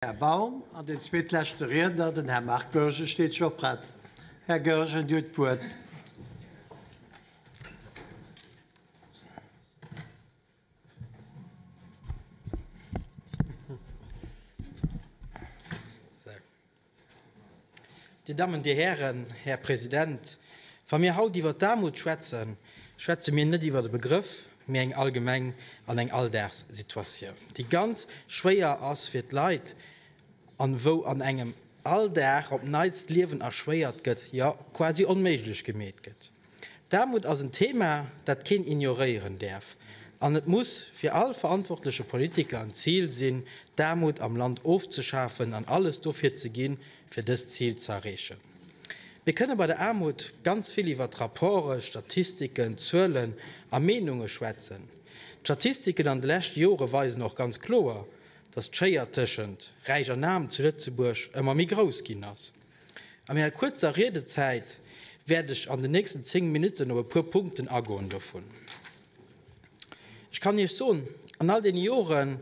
Här Baum, an deen zweetleschte Riedner, den Här Marc Goergen, steet scho prett. Här Goergen, Dir hutt d'Wuert. Dir Dammen, Dir Hären, Här President, wa mir haut iwwert d'Aarmut schwätzen, schwätze mir net iwwert e Begrëff, mee eng allgemeng an eng Alldagssituatioun, déi ganz schwéier ass fir d'Leit an wou an engem all Dag op Neits d'Liewen erschwéiert gëtt, jo quasi onméiglech gemeet gëtt. D'Aarmut ass en Thema, dat keen ignoréieren däerf, an et muss fir all verantwortleche Politiker en Zil sinn, d'Aarmut am Land ofzeschafen an alles dofir ze ginn, fir dëst Zil ze erreechen. Mir kënne bei der Aarmut ganz vill iwwert Rapporte, Statistiken, Zuelen a Meenunge schwätzen. D'Statistiken an de leschte Jore weisen och ganz kloer, dass d'Schéier tëschent Räich an Aarm zu Lëtzebuerg ëmmer méi grouss ginn ass. A menger kuerzer Riedezäit wäert ech an den nächsten zéng Minutten op e puer Punkten agoen dovun. Ech kann Iech soen, an all deene Joren,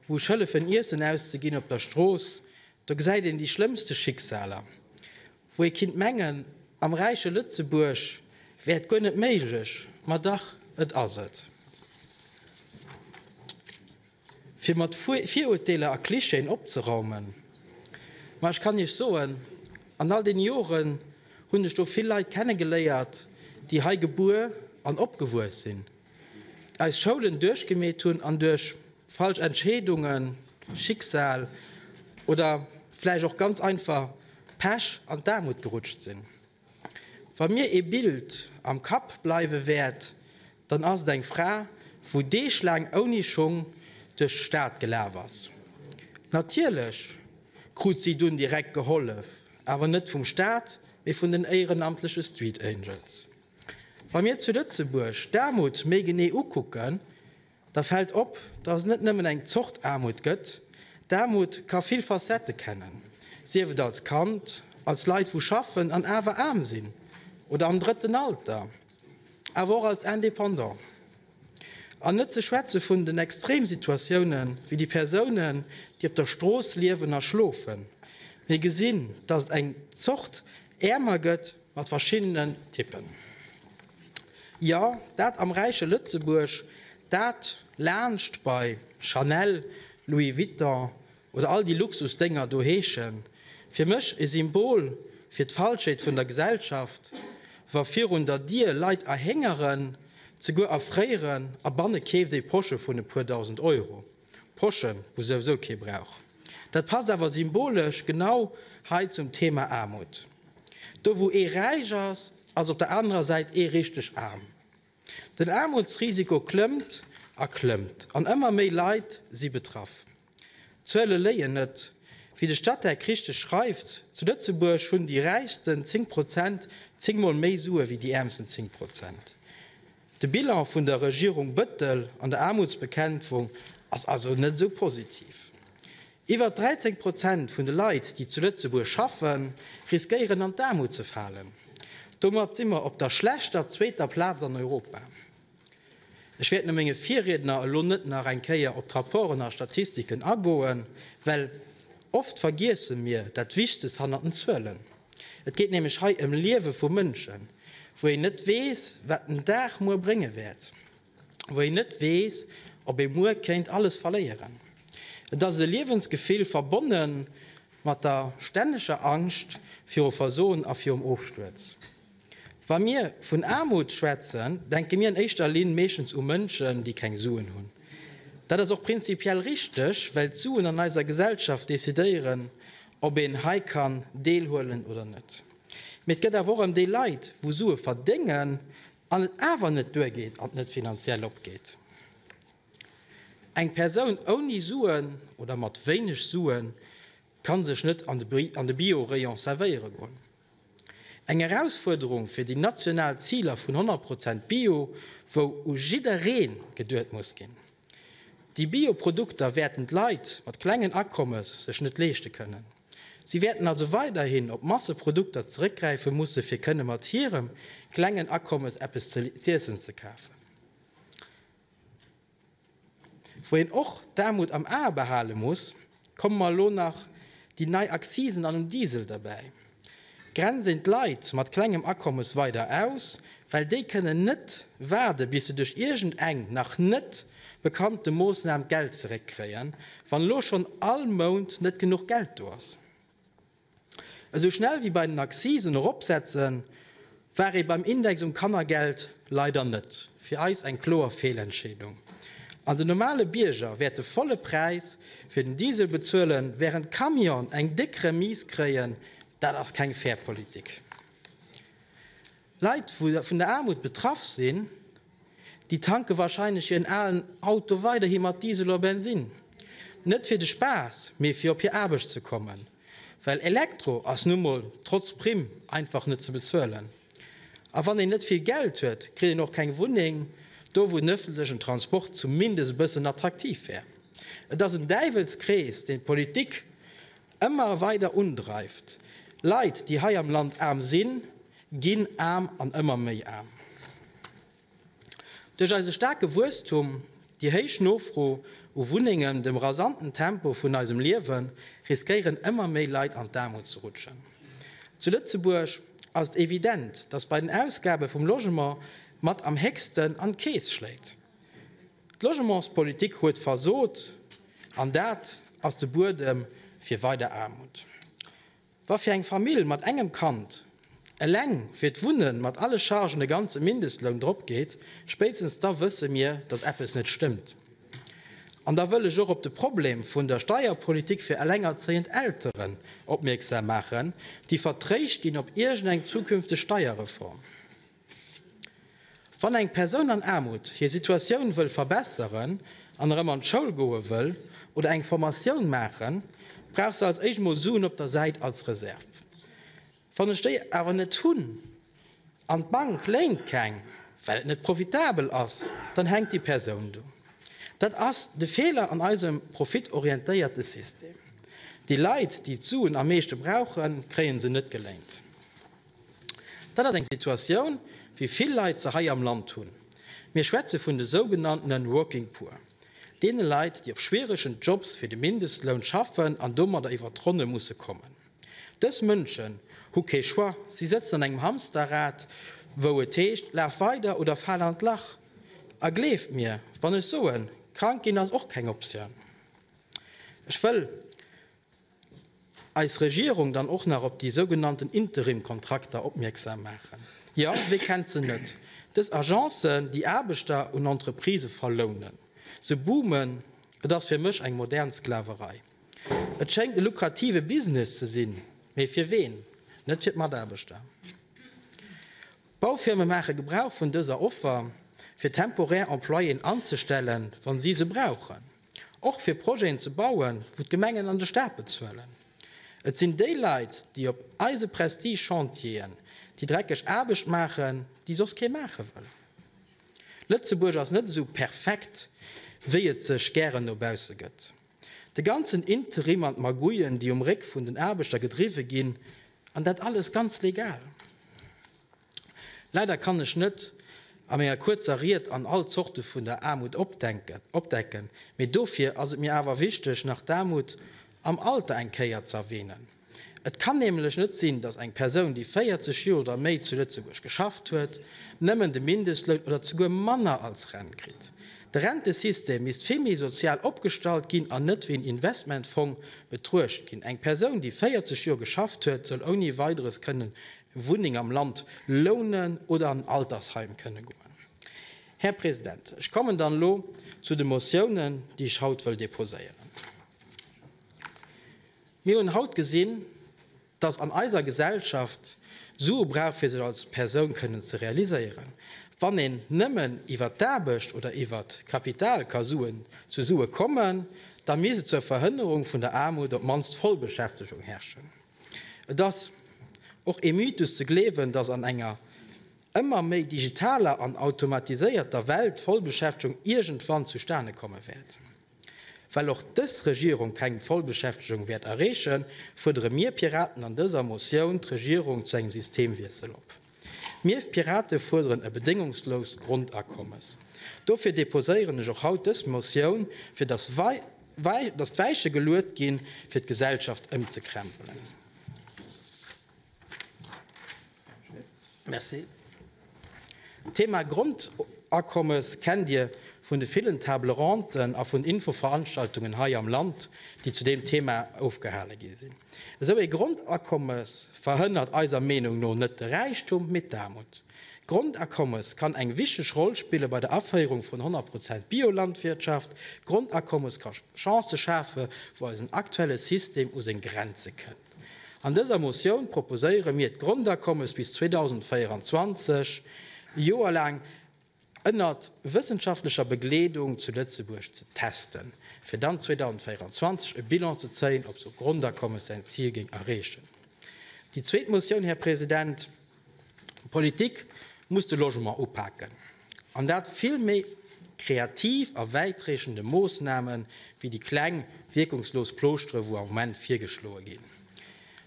wou ech hëllefen Iessen auszeginn op der Strooss, do gesäit een déi schlëmmste Schicksaler, wou ee kinnt mengen, am räiche Lëtzebuerg wär et guer net méiglech, ma dach, et ass et. fir mat Virurteeler a Klischeeën opzeraumen. Mä ech kann Iech soen, an all deene Joren hunn ech do vill Leit kenne geléiert, déi hei gebuer an opgewuess sinn, eis Schoulen duerchgemeet hunn an duerch falsch Entscheedungen, Schicksal oder vläicht och ganz einfach Pech an d'Aarmut gerutscht sinn. Wa mir ee Bild am Kapp bleiwe wäert, dann ass et eng Fra, wou deeglaang ouni Schung duerch d'Stad gelaf ass. Natierlech krut si dunn direkt gehollef, awer net vum Staat, mee vun den éierenamtleche Street Angels. Wa mir zu Lëtzebuerg d'Aarmut méi genee ukucken, Da fält op, dass et net nëmmen eng Zort Aarmut gëtt. D'Aarmut ka vill Facettë kennen, sief et als Kand, als Leit wou schaffen an awer aarm sinn oder am drëtten Alter, awer och als Indépendant. An net ze schwätze vun den Extremsituatioune wéi déi Persounen, déi op der Strooss liewen a schlofen. Mir gesinn, dass et eng Zort Äermer gëtt mat verschiddenen Typpen. Jo, dat am räiche Lëtzebuerg, dat laanscht bei Chanel, Louis Vuitton oder all déi Luxusdénger do heeschen. Fir mech e Symbol fir d'Falschheet vun der Gesellschaft, wa virun der Dier Leit erhéngeren, zeguer erfréieren a banne keeft ee Porsche vun e puer dausend Euro. Porschen, wou souwisou kee brauch. Dat passt awer symbolesch genau hei zum Thema Aarmut. Do wou ee räich ass, ass op der anerer Säit ee richteg aarm. Den Aarmutsrisiko klëmmt a klëmmt an ëmmer méi Leit si betraff. D'Zuele léien net. Wéi de Statec richteg schreift, zu Lëtzebuerg hunn déi räichsten 10 Prozent zéngmol méi Sue wéi déi äermsten 10 Prozent. De Bilan vun der Regierung Bëttel an der Aarmutsbekämpfung ass also net esou positiv. Iwwer 13 Prozent vun de Leit, déi zu Lëtzebuerg schaffen, riskéieren an d'Aarmut ze falen. Domat si mer op der schlechter zweeter Plaz an Europa. Ech wäert no menge Virriedner elo net nach eng Kéier op d'Rapporten a Statistiken agoen, well oft vergiesse mir dat Wichtegst hannert den Zuelen. Et geet nämlech hei ëm Liewe vu Mënschen, wou een net weess, wat den Dag muer brénge wäert, wou een net weess, ob ee muer kéint alles verléieren. Et ass e Liewensgefill, verbonne mat der stänneger Angscht viru Versoen a virum Ofstuerz. Wa mir vun Aarmut schwätzen, denke mir an éischter Linn meeschtens u Mënschen, déi keng Suen hunn. Dat ass och prinzipiell richteg, well d'Suen an eiser Gesellschaft decidéieren, ob een hei kann deelhuelen oder net. Mee et gëtt awer och ëm déi Leit, wou Sue verdéngen an et awer net duergeet an net finanziell opgeet. Eng Persoun ouni Suen oder mat wéineg Suen ka sech net an de Bio-Rayon servéiere goen. Eng Erausfuerderung fir déi national Ziler vun 100 Prozent Bio, wou u jidderee geduet muss ginn. Déi Bio-Produkter wäerten d'Leit mat klengen Akommes sech net leeschte kënnen. Si wäerten also weiderhin op Masseprodukter zeréckgräife musse fir kënne mat hirem klengen Akommes eppes z'iessen ze kafen. Wou een och d'Aarmut am A behale muss, komme mer elo nach déi nei Accisen an um Diesel derbäi. Grenzen d'Leit mat klengem Akommes weider aus, well déi kënnen net waarde bis se duerch iergend eng nach net bekannte Moossnam d'Geld zeréck kréien, wann elo schonn all Mount net genuch Geld do ass. Esou schnell wéi bei den Accisen eropsetzen, war ee beim Index um Kannergeld leider net. Fir eis eng kloer Feelentscheedung. An den normale Bierger wäert de volle Präis fir den Diesel bezuelen, während d'Camionen eng déck Remise kréien. Dat ass keng fair Politik. Leit wou vun der Aarmut betraff sinn, déi tanke wahrscheinlech hiren alen Auto weiderhi mat Diesel oder Bensin. Net fir de Spaass, mee fir op hir Aarbecht ze kommen. Well Elektro ass nu mol, trotz Primm, einfach net ze bezuelen. A wann een net vill Geld huet, kritt een och keng Wunneng do wou den ëffentlechen Transport zumindest e bëssen attraktiv wär. Et ass en Däiwelskrees deen d'Politik Ëmmer weider undreift. Leit, déi hei am Land aarm sinn, ginn aarm an ëmmer méi aarm. Duerch eise staarke Wuesstum, déi héich Nofro u Wunnengen, dem rasanten Tempo vun eisem Liewe riskéieren ëmmer méi Leit an d'Aarmut ze rutschen. Zu Lëtzebuerg ass et evident, datt bei den Ausgabe vum Logement mat am héchsten an d'Keess schléit. D'Logementspolitik huet versot, an dat ass de Buedem fir weider Aarmut. Wa fir eng Famill mat engem Kand eleng fir d'Wunne mat alle Chargen e ganze Mindestloun drop geet, spéitstens da wësse mir, datt eppes net stëmmt. An da wëll ech och op de Problem vun der Steierpolitik fir elengerzéiend Elteren opmierksam maachen, déi vertréischt ginn op iergendeng zukünfteg Steierreform. Wann eng Persoun an Aarmut hir Situatioun wëll verbesseren an erëm an d'Schoul goe wëll oder eng Formatioun maachen, brauch se als éischt mol Suen op der Säit als Reserv. Wann ech déi awer net hunn an d'Bank léint keng, well et net profitabel ass, dann hänkt déi Persoun do. Dat ass de Feeler an eisem profitorientéierte System. Déi Leit, déi d'Suen am meeschte brauchen, kréie se net geléint. Dat ass eng Situatioun, wéi vill Leit se hei am Land hunn. Mir schwätze vun de sougenanntene Working Poor, deene Leit, déi op schwieregen Jobs fir de Mindestloun schaffen an domadder iwwert d'Ronne musse kommen. Dës Mënschen hu kee Choix, si sëtzen an engem Hamsterrad, wou et heescht, laf weider oder fal an d'Lach. A gleeft mir, wann ech soen, krank ginn ass och keng Optioun. Ech wëll. eis Regierung dann och nach op déi sougenannten Interimkontrakter opmierksam maachen. Jo, wee kennt se net, dës Agencen, déi Aarbechter un Entreprisë verlounen, se boomen. Et ass fir mech eng modern Sklaverei. Et schéngt e lukrative Business ze sinn, mee fir ween? Net fir d'Mataarbechter. D'Baufirme maache Gebrauch vun dëser Offer, fir temporär Employéen anzestellen, wa si se brauchen, och fir Projeten ze bauen, wou d'Gemengen an de Staat bezuelen. Et sinn déi Leit, déi op eise Prestige-Chantieren déi dreckeg Aarbecht maachen, déi soss kee maache wëll. Lëtzebuerg ass net esou perfekt, wéi et sech gären no bausse gëtt. De ganzen Interim an d'Magouillen, déi um Réck vun den Aarbechter gedriwwe ginn, an dat alles ganz legal. Leider kann ech net a menger kuerzer Ried an all Zorte vun der Aarmut opdecken, mee dofir ass et mir awer wichteg, nach d'Aarmut am Alter eng Kéier ze erwähnen. Et kann nämlech net sinn, datt eng Persoun, déi 40 Joer oder méi zu Lëtzebuerg geschafft huet, nëmmen de Mindestloun oder souguer manner als Rent kritt. De Rentesystem misst vill méi sozial opgestallt ginn an net wéi en Investmentfong betruecht ginn. Eng Persoun, déi 40 Joer geschafft huet, soll ouni Weideres kënnen eng Wunneng am Land lounen oder an en Altersheim kënne goen. Här President, ech kommen dann elo zu de Motiounen, déi ech haut wëll deposéieren. Mir hunn haut gesinn, dass an eiser Gesellschaft Sue brauch fir sech als Persoun kënnen ze realiséieren. Wann een nëmmen iwwert d'Aarbecht oder iwwert Kapital ka Suen zesue kommen, da misst zur Verhënnerung vun der Aarmut op d'mannst Vollbeschäftegung herrschen. Et ass och ee Mythus ze gleewen, dass an enger ëmmer méi digitaler an automatiséierter Welt d'Vollbeschäftegung iergendwann zustane komme wäert. Well och dës Regierung keng Vollbeschäftegung wäert erreechen, fuerdere mir Piraten an dëser Motioun d'Regierung zu engem Systemwiessel op. Mir Pirate fuerderen e bedéngungsloust Grondakommes. Dofir deposéieren ech och haut dës Motioun, fir datt d'Weiche geluet ginn, fir d'Gesellschaft ëmzekrempelen. Merci. D'Thema Grondakommes kennt Dir vun de villen Table rondes a vun Infoveranstaltungen hei am Land, déi zu deem Thema ofgehale gi sinn. Esou ee Grondakommes verhënnert eiser Meenung no net de Räichtum, mee d'Aarmut. D'Grondakommes kann eng wichteg Roll spille bei der Aféierung vun 100 Prozent Biolandwirtschaft. D'Grondakommes ka Chancë schafe wou eisen aktuelle System u seng Grenze kënnt. An dëser Motioun proposéiere mir, d'Grondakommes bis 2024, e Joer laang, ënner wëssenschaftlecher Begleedung zu Lëtzebuerg ze testen, fir dann 2024 e Bilan ze zéien, ob esou e Grondakommes säin Zil géing erreechen. Déi zweet Motioun, Här President, D'Politik muss de Logement upaken, an dat vill méi kreativ a wäitreechende Moossname wéi déi kleng, wierkungslos Plooschteren, wou am Moment virgeschloe ginn.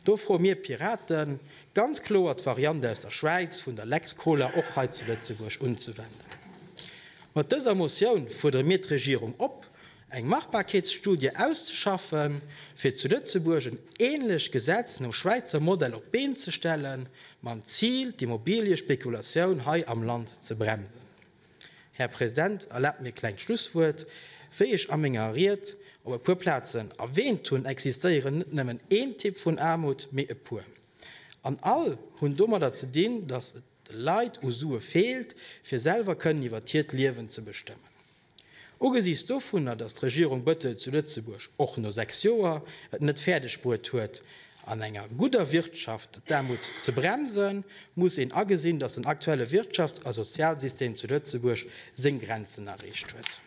Do froe mir Pirate ganz kloer, d'Variant aus der Schwäiz vun der Lex Koler och hei zu Lëtzebuerg unzewenden. Mat dëser Motioun fuerdere mir d'Regierung op, eng Machbarkeetsstudie auszeschaffen, fir zu Lëtzebuerg en änlech Gesetz nom Schwäizer Modell op d'Been ze stellen, mam Zil, d'Immobiliëspekulatioun hei am Land ze bremsen. Här President, erlaabt mir e klengt Schlusswuert. Wéi ech a menger Ried op e puer Plazen erwähnt hunn, existéieren net nëmmen een Typ vun Aarmut, mee e puer. An all hunn domadder ze dinn, dass et de Leit u Sue feelt, fir selwer kënnen iwwert hiert Liewen ze bestëmmen. Ugesiichts dovunner, datt d'Regierung Bëttel zu Lëtzebuerg och no sechs Joer et net fäerdegbruet huet, an enger gudder Wirtschaft d'Aarmut ze bremsen, muss een agesinn, datt den aktuelle Wirtschafts a Sozialsystem zu Lëtzebuerg seng Grenzen erreecht huet.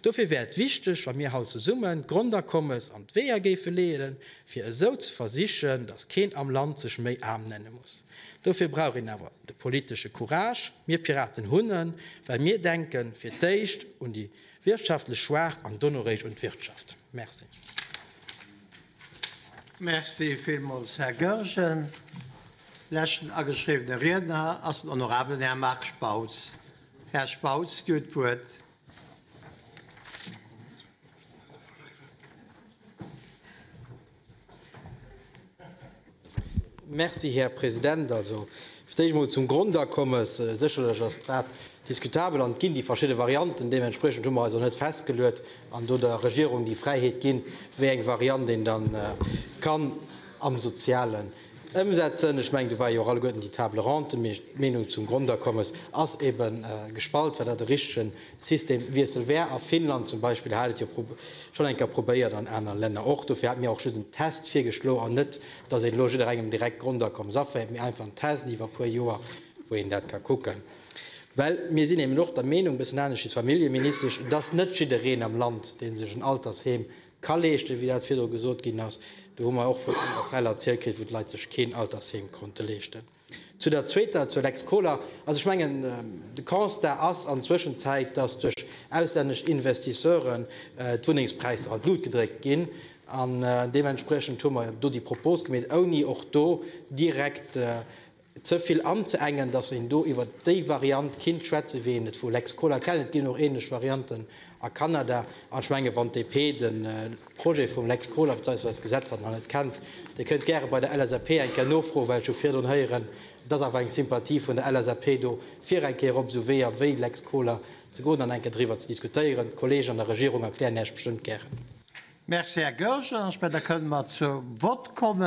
Dofir wär et wichteg, wa mir haut zesummen d'Grondakommes an d'Weeër géife leeën, fir esou ze versichen, datt keen am Land sech méi aarm nenne muss. Dofir brauch een awer de politesche Courage. Mir Piraten hunn en, well mir denke fir d'éischt un déi wirtschaftlech Schwaach an donoréischt un d'Wirtschaft. Merci. Merci villmools, Här Goergen. Leschten ageschriwwene Riedner ass den honorabelen Här Marc Spautz. Här Spautz, Dir hutt d'Wuert. Merci, Här President. Also, fir d'éischt emol zum Grondakommes. Sécherlech ass dat diskutabel an et ginn déi verschidde Varianten. Deementspriechend hu mer eis och net festgeluet an do der Regierung déi Fräiheet ginn, wéi eng Variant een da ka am sozialen Ëmsetzen. Ech mengen, do war jo och alleguerten déi Table ronde, mee d'Meenung zum Grondakommes ass ebe gespalt, wat dat e richtege Systemwiessel wär. A Finnland zum Beispill hat et jo schonn eng Kéier probéiert, an aner Länner och. Dofir hate mir och just en Test virgeschlo an net, dass een elo jidderengem direkt d'Grondakommes aféiert, mee einfach en Test iwwer e puer Joer, wou een dat ka kucken. Well mir sinn eben och der Meenung, e bëssen anescht wéi d'Familljeministesch, dass net jiddereen am Land, dee sech en Altersheem Ka leeschten, wéi dat virdru gesot ginn ass. Do hu mer och vun anere Fäll erzielt kritt, wou d'Leit sech keen Altersheem konnte leeschten. Zu der zweeter, zur Lex Kohler. Also ech mengen, de Constat ass an Zwëschenzäit, dass duerch auslännesch Investisseuren d'Wunnengspräisser an d'Lut gedréckt ginn. An deementspriechend hu mer do déi Propos gemeet, ouni och do direkt Ze vill an ze engen, dass een do iwwer déi Variant kinnt schwätzen, wéi een et vu Lex Koler kennt. Et ginn och ähnlech Varianten a Kanada. An ech mengen, wann d'DP de Projet vum Lex Koler beziehungsweise d'Gesetz, dat nach net kennt, dee kënnt gäre bei der LSAP eng Kéier nofroen, well ech hu virdrun héieren, et ass awer eng Sympathie vun der LSAP do, fir eng Kéier op esou Weeër wéi Lex Koler ze goen an eng Kéier driwwer ze diskutéieren. D'Kollegen an der Regierung erklären Äech bestëmmt gären. Merci, Här Goergen. Ech mengen, da kënnen mer zur Vott kommen.